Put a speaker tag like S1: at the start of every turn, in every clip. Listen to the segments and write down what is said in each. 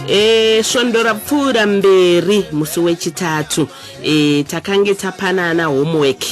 S1: e, svondo rapfuura mberi musi wechitatu e, takange tapanana homework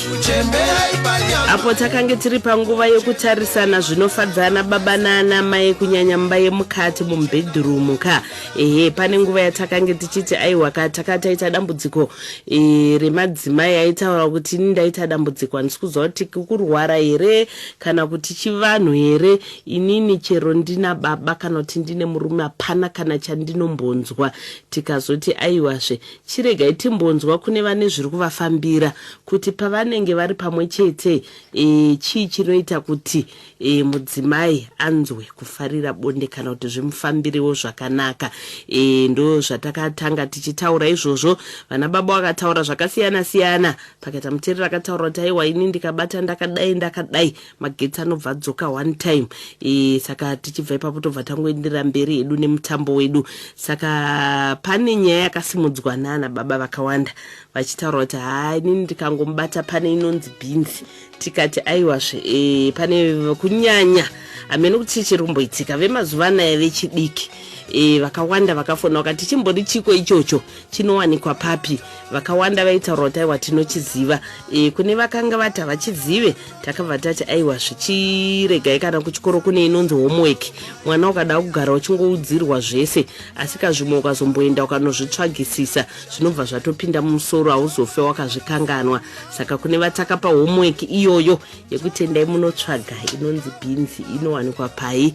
S1: apo takange tiri panguva yekutarisana zvinofadzana baba naana mai kunyanya mumba yemukati mumubhedhurumu ka ehe pane nguva yatakange tichiti aiwa ka taka taita dambudziko e, remadzimai aitaura kuti ini ndaita dambudziko handisi kuziva kuti kurwara here kana kuti chivanhu here Inini chero ndina baba kana kuti ndine murume hapana kana chandinombonzwa tikazoti aiwazve chiregai timbonzwa kune vane zviri kuvafambira kuti pavanenge vari pamwe chete e, chii chinoita kuti e, mudzimai anzwe kufarira bonde kana kuti zvimufambirewo zvakanaka e, ndo zvatakatanga tichitaura izvozvo vana baba vakataura zvakasiyana siyana pakaita muterera akataura kuti aiwa ini ndikabata ndakadai ndakadai magetsi anobva adzoka one time e, saka tichibva ipapo tobva tangoenderera mberi hedu nemutambo wedu saka pane nyaya yakasimudzwa nana baba vakawanda vachitaura kuti haa inini ndikangomubata pane inonzi bhinzi tikati aiwazve e, pane kunyanya hamene kuti chii chiri kumboitika vemazuva anaya vechidiki e, vakawanda vakafona vakati chimbori chiko ichocho chinowanikwa papi vakawanda vaitaura kuti aiwa tinochiziva e, kune vakanga vati havachizive takabva tati aiwa zvichiregai kana kuchikoro kune inonzi homework mwana ukada kugara uchingoudzirwa zvese asi kazvimwe ukazomboenda ukanozvitsvagisisa zvinobva zvatopinda mumusoro hauzofe wakazvikanganwa saka kune vatakapa homework iyoyo yekutendai munotsvaga inonzi bhinzi inowanikwa pai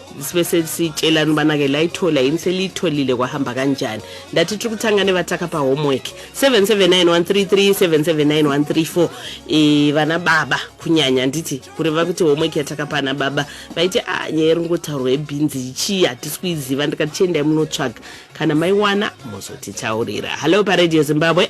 S1: sibe sesitshelani ubana-ke layithola yini seliyitholile kwahamba kanjani ndathi tiri kuthanga nevathaka pa homework 779133779134 e, vana baba kunyanya ndithi kureva kuti homework yathaka pana baba vaiti a ah, nyaya iri ngothaurwa ebhinzi yichii hatisi kuyiziva ndikati chiendai munotsvaga kana maiwana mozotithaurira hallo paradio zimbabwe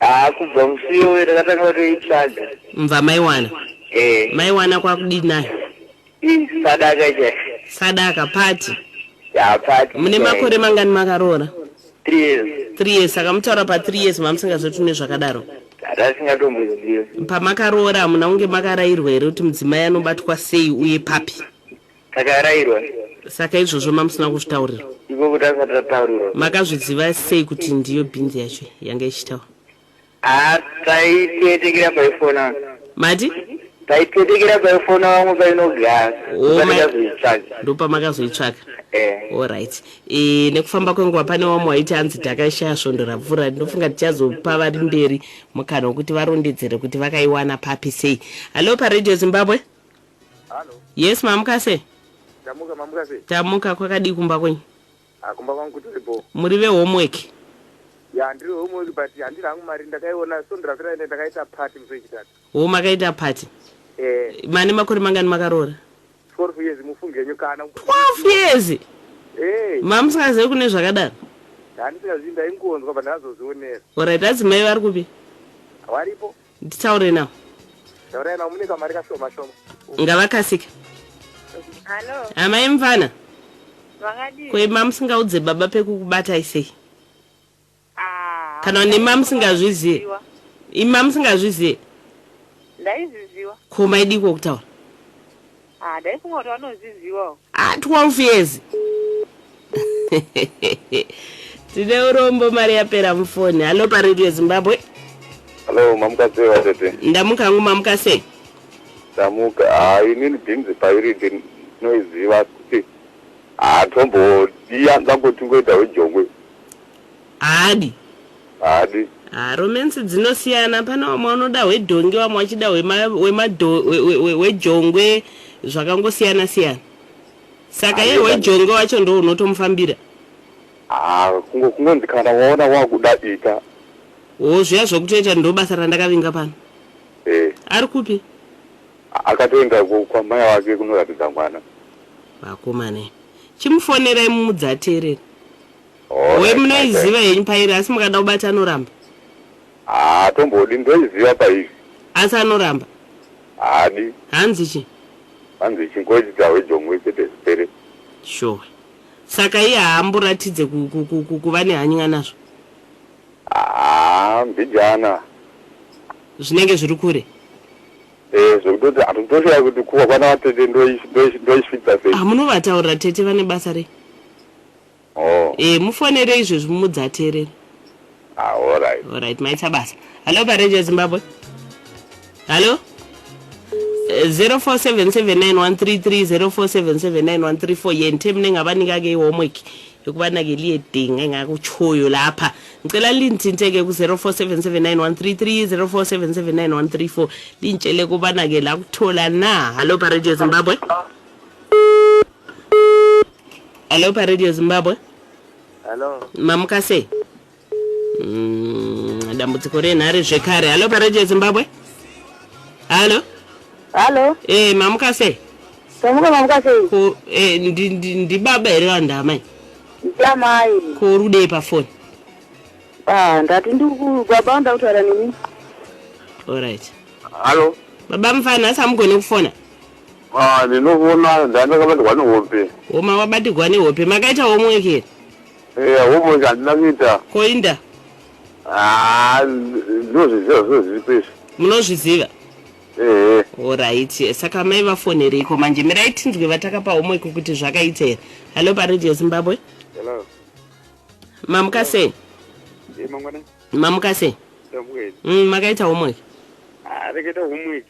S1: Haa kubva musi iyoyo takatanga kutoitsvaga. Mva maiwana. Eh. Maiwana kwakudii nayo? Ih, sadaka chaiyo. Sadaka party. Ya party. Mune chaiyo. makore mangani makaroora? 3 years. 3 years saka mutaura pa 3 years mamusingazoti ne zvakadaro. Tasingatombozivi. Pamakaroora hamuna kunge makarairwa here kuti mudzimai anobatwa sei uye papi? Takarairwa. Saka izvozvo mamusina kuzvitaurirwa? Ikoko tanga tataurirwa. Makazviziva sei kuti ndiyo bhinzi yacho yanga ichitaura? Ah, taiteetekera paifona. Mati? Taiteetekera paifona vamwe painogara. Oh, Ndopamakazoitsvaga. Ndopamakazoitsvaga. Eh. All right. E, nekufamba kwenguva pane wamwe waiti anzi takaishaya svondo rapfuura ndinofunga tichazopa vari mberi mukana wekuti varondedzere kuti vakaiwana papi sei. Hallo paradio Zimbabwe? Halo. Yes mamuka se. Tamuka mamuka se. Tamuka kwakadii kumba kwenyu? Ah kumba kwangu kutori bho. Muri ve homework. Ya ndiri homework but handina hangu mari ndakaiona so ndirapira ende ndakaita party musi wechitatu. Wo makaita party. Eh. Mane makore mangani makaroora? 12 years mufunge henyu kana. 12 years. Eh. Hey. Mamusingazive kune zvakadaro. Handisingazivi ndaingonzwa but ndazozvionera. Alright adzimai vari kupi? Varipo. nditaure navo Taurai navo mune kamari kashoma shoma. ngavakasike Hello, amai mvana vakadii? ko ima musingaudze baba pekukubatai sei Ah, kana hamuna nima musingazvizive. kuziviwa. ima musingazvizive Ndaiziziwa. ko maidiko kutaura Haa ndaifunga kuti vanozvizivawo. Haa 12 years tine urombo mari yapera mufoni. Hallo paRadio Zimbabwe. Hallo mamuka sei vatete. Ndamuka hangu mamuka sei. Ndamuka haa inini bhinzi pairi ndinoiziva kuti haa tombodiya ndangotingoita wejongwe. Haadi. Haadi. Haa romance dzinosiyana pane wamwe wanoda hwedhongi wamwe wachida hwema, hwema do, hwe, hwe, hwe, hwejongwe zvakangosiyana siyana saka iye Aneta. hwejongwe wacho ndo unotomufambira Haa kungo- kungonzi kana waona wakuda ita. wo zviya zvokutoita ndo basa randakavinga pano Eh. ari kupi Akatoenda ku- kwamai wake kunoratidza mwana. vakomane chimufonerai mumudzi ateerere Hoi munoiziva henyu pairi asi mukada kubata anoramba. Haa tombodi ndoiziva pairi. Asi anoramba. Haadi. Hanzi chi? Hanzi chingoita hwejongwe chete zvipere. Sure. Saka iye haamboratidze kuva nehany'a nazvo? Haa mbijana. Zvinenge zviri kure. Eh, zvekutoti hatotoshaya kuti kuva kwana vatete ndoisvitsa sei. Hamunovataurira ah, tete vane basa rei? Oh. Eh mufonere izvezvi mumudze ateerere. Ah, all right. All right, maita basa. Hello pa Radio Zimbabwe. Hello. 0477913304779134 eh, yente mine ngabanika ke homework yokubana ke liye dinga engakutshoyo lapha ngicela lindinte ke ku-04779133 lintshele kubana ke la kuthola na hallo pa radio zimbabwe Hello paRadio Zimbabwe. Hello. Mamuka sei? Mm, dambudziko renhare zvekare. Hello paRadio Zimbabwe. Hello. Hello. Eh, mamuka sei? Tamuka mamuka sei? Ko eh ndi ndi ndi baba here vanhu amai? Ndamai. Ko uri kudei pa phone? Ah, ndati ndi ku baba anda kutaura nemi. All right. Hello. Baba mfana samugone kufona. Haa ndinovona ndandakabatirwa nehope. Homa wabatirwa nehope makaita homework here. Eya homework handina kuita. Ko inda. Haa ndinozviziva zvose zviripo izvi. Munozviziva. Ehe. Alright saka mai vafonereiko manje mirai tinzwe vatakapa homework kuti zvakaita here. Hello paradio Zimbabwe. Hello. Mamuka sei. Mamukase. Mm, makaita homework. Ah, rekaita homework.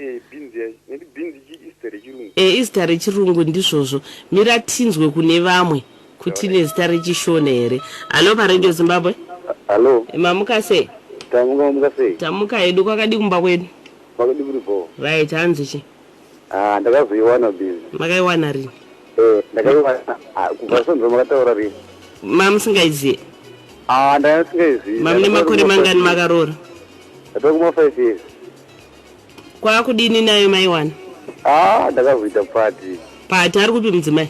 S1: Eh beans yacho. Nekuti beans ichi izita rechirungu. Eh izita rechirungu ndizvozvo. Mira tinzwe kune vamwe kuti ine zita rechishona here. Hallo paRadio Zimbabwe. Hallo. Mamuka sei? Tamuka mamuka sei? Tamuka hedu kwakadii kumba kwedu? Kwakadii kuri bhoo. Right hanzi chi? Ah ndakazoiwana beans. Makaiwana rini? Eh ndakaiwana ah, kubva sonzo makataura rini? Mamusingaiziye? Ah ndanga ndisingaiziye. Mamune makore mangani makaroora? Ndatokumafive years. Kwakudini nayo maiwana? Ah, ndakazoita party. Party ari kupi mudzimai?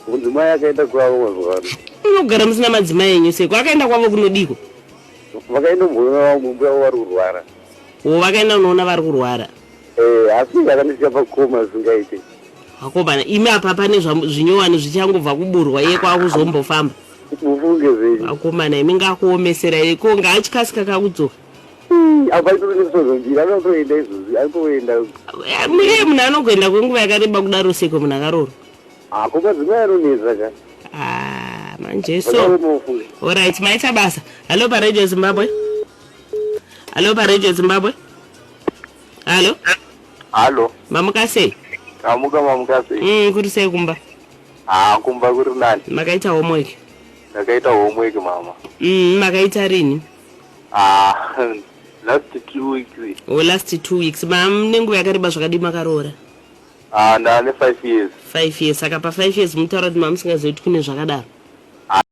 S1: Mudzimai akaenda kwavo mazuva ano. Unogara musina madzimai enyu seko. Akaenda kwavo kunodiko? Vakaenda kumboona mumbuya wavo vari kurwara. Wo vakaenda unoona vari kurwara. Eh, asi akandisiya pakoma zvingaite. Akomana, imi apa pane zvinyowani zvichangobva kuburwa iye kwakuzombofamba. Mufunge zvenyu. Akomana, imi ngakuomesera iko ngaachikasika kakudzoka. apa aitori nekusozonjira anoda kutoenda izvozvi aitoenda iye munhu anogoenda kwenguva yakareba kudaro seko munhu akaroro apo madzimai anonetsa ka ah, manje so orit maita basa hallo paradio zimbabwe hallo paradio zimbabwe hallo hallo mamuka sei amuka mamuka sei mm, kuri sei kumba ah, kumba kuri nani makaita homework ndakaita homework mama mm, makaita rini Ah, last two weeks. Oh, last two weeks. Ma nenguva yakareba zvakadii makaroora? Ah, ndane five years. Five years. Saka pa five years munotaura kuti mamusingazivi kuti kune zvakadaro?